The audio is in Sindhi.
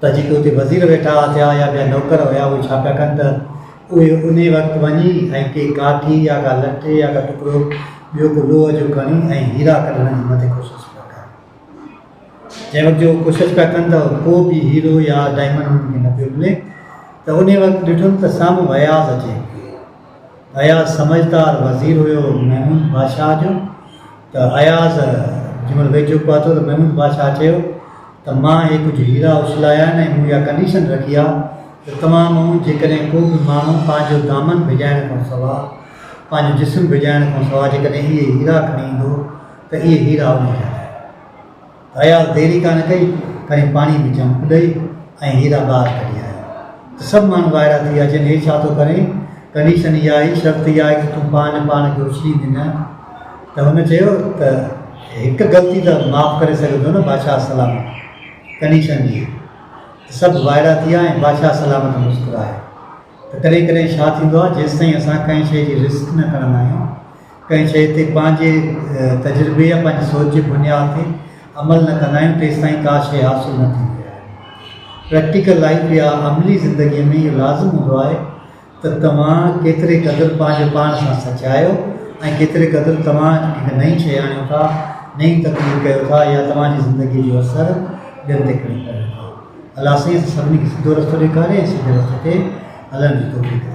ته جيڪي اتي وزير ويٺا ٿيا يا ٻيا نوڪر هيا اهي ڇا پيا ڪن ته اهي انهي وقت وڃي ۽ ڪي ڪاٺي يا ڪا لٺي يا ڪا ٽڪرو ٻيو ڪو لوهه جو کڻي ۽ هيرا ڪڍڻ جي مٿي ڪوشش پيا ڪن جنهن وقت جو ڪوشش پيا ڪن ته ڪو به هيرو يا ڊائمنڊ انهن کي نه پيو ملي ته انهي وقت ڏٺم ته سامهون اياز اچي اياز سمجهدار وزير هيو محمود بادشاهه جو ته اياز جنهن مهل ويجهو پهتو ته محمود بادشاهه چيو ته مان اهي ڪجهه هيرا اڇلايا آهن ۽ مون اها ڪنڊيشن رکي آهي ته توهان مان جيڪڏهن ڪو به ماڻهو پنهنجو دامن ڀيڄائڻ کان سواء پنهنجو جسم ڀيڄائڻ کان سواء جيڪڏهن اهي هيرا کڻي ايندو ته اهي هيرا ان جا اياز دير ئي ڪانه ڪئي، کڻي پاڻيء ۾ چمڪ ڏئي ۽ هيرا ٻاهر ڪڍي آيو ته سڀ ماڻهو وائڙا ٿي ويا، چين هي ڇا ٿو ڪرين، ڪنڊيشن اها آهي، شرط اها آهي ته تون پاڻ پاڻ کي اڇليندين نه؟ ته هن چيو ته هڪ غلطي ته معاف ڪري سگهين ٿو نه بادشاهه سلامت، ڪنڊيشن هيء ته سڀ وائڙا ٿي ويا ۽ بادشاهه سلامت مسڪرايو ته ڪڏهن ڪڏهن ڇا ٿيندو آهي، جيستائين اسان ڪنهن شيء جي رسڪ نه کڻندا آهيون، ڪنهن شيء تي پنهنجي تجربي يا پنهنجي سوچ جي بنياد تي عمل نه ڪندا آهيون تيستائين ڪا شيء حاصل نه ٿيندي آهي. پريڪٽيڪل لائيف يا عملي زندگيء ۾ اهو لازم هوندو آهي ته توهان ڪيتري قدر پنهنجي پاڻ سان سچ آهيو ۽ ڪيتري قدر توهان هڪ نئين شيء آڻيو ٿا، نئين تخليق ڪيو ٿا يا توهان جي زندگيء جو اثر ٻين تي ڪري ڪريو ٿا. الله سائين اسان سڀني کي سڌو رستو ڏيکاري ۽ سڌي رستي تي هلڻ جي توفيق ڏي.